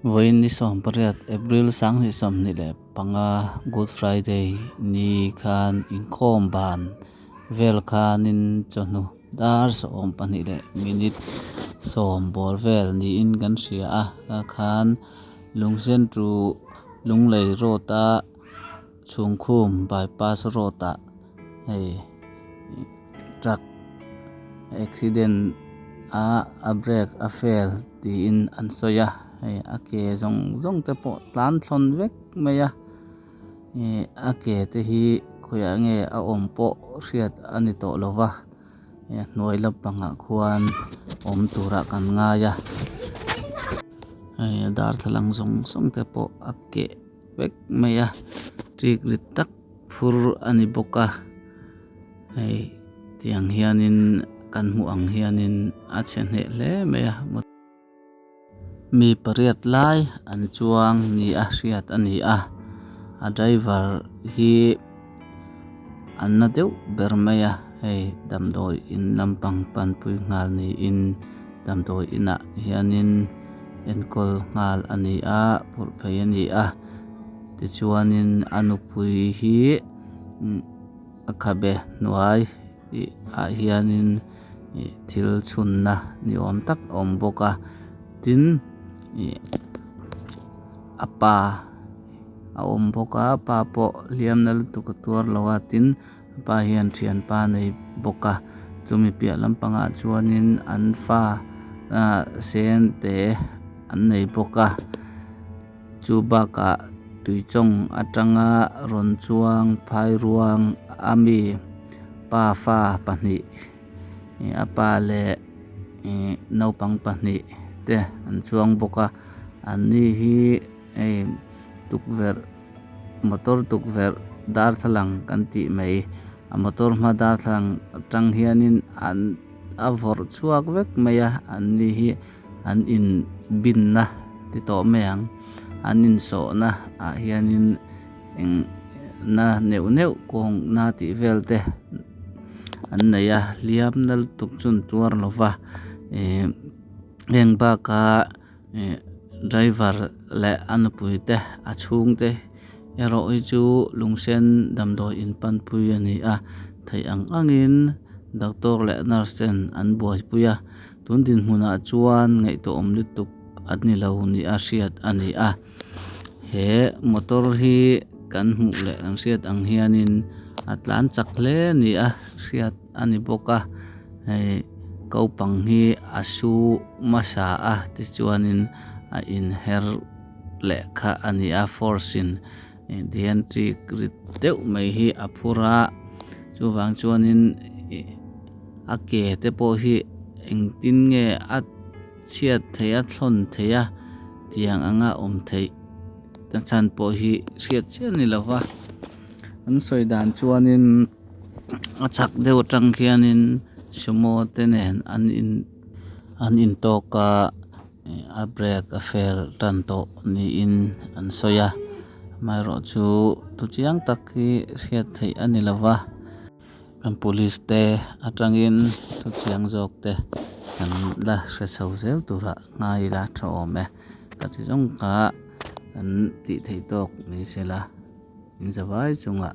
Vawiin ni sawmpariat April sanghnih sawmhnih leh panga Good Friday ni khan inkawm ban vel khanin chawhnu dar sawm pahnih leh minute sawm bawr vel niin kan hria a. Kha khan Lungsentu Lunglei Road a. Chhungkhum Bypass Road ah hei truck accident a a brake a fail tiin an sawi a, hei a ke zawng zawng te pawh tlan thlawn vek mai a, a ke te hi khawiah nge a awm pawh hriat a ni tawh lo va, hei a hnuai lampang ah khuan awm tur ah kan ngai a, hei a darthlalang zawng zawng te pawh a ke. vek mai a chik rit tak phur a ni bawk a hei tiang hianin kan hmuh ang hianin a chhe hneh hle mai a mut mi pariat lai an chuang nia hriat a ni a a driver hi-- An na deuh ber mai a, hei damdawi in lampang panpui nghal niin damdawi inah hianin enkawl nghal a ni a, purh phei a ni a. Tichuanin a nupui hi a khabe hnuai ah hianin thil chhunna ni awm tak a awm bawk a, tin a pa-- A awm bawk a, pa pawh hliamna lutuk a tuar lo a, tin, a pa hian ṭhianpa a nei bawk a. Chumi piah lampangah chuanin an fa sente an nei bawk a. Chu bakah tuichawng aṭanga rawn chuang phai ruang a mi pa fa pahnih, a pa leh naupang pahnih te an chuang bawk a. Anni hi. Hei tukverh motor tukverh darthlalang kan tih mai. A motor hma darthlalang atang hianin an a vawrh chhuak vek mai a, an ni hi an inbinna ti tawh mai ang. An insawhna ah hianin eng na neuh neuh kawngna tih vel te an nei a, hliam nal tuk chun tuar lova eng baka. Driver leh a nupui te a chhung te erawhi chu lungsen damdawi in panpui a ni a, thei ang ang in doctor leh nurse ten an buaipui a, tun dinhmun ah chuan ngaihtuah awm lutuk an ni lo nih a hriat a ni a, he motor hi kan hmuh leh kan hriat ang hian in a tlan chak hle a ni a hriat-- A ni bawk a, hei Kaupang hi a su hmasa a tichuanin a inher leh kha a ni a, force-in Dianti rit deuh mai hi a phur a, chuvang chuanin a ke te pawh hi engtin nge a chhiat theih a thlawn theih a tiang anga awm theih nachan pawh hi hriat chiah ni lo va, an sawi dan chuanin. A chak deuh atang khianin sumo te nen an in an in tawk a a break a fail tan tawh niin an sawi a amaherawh chu tu chiang tak hi hriat theih a ni lo va kan police te atangin thu chiang zawk te kan la hre chho zel turah ngai la tha awm e ka chi zawng kha kan tih theih tawk ni sela inzavai chungah.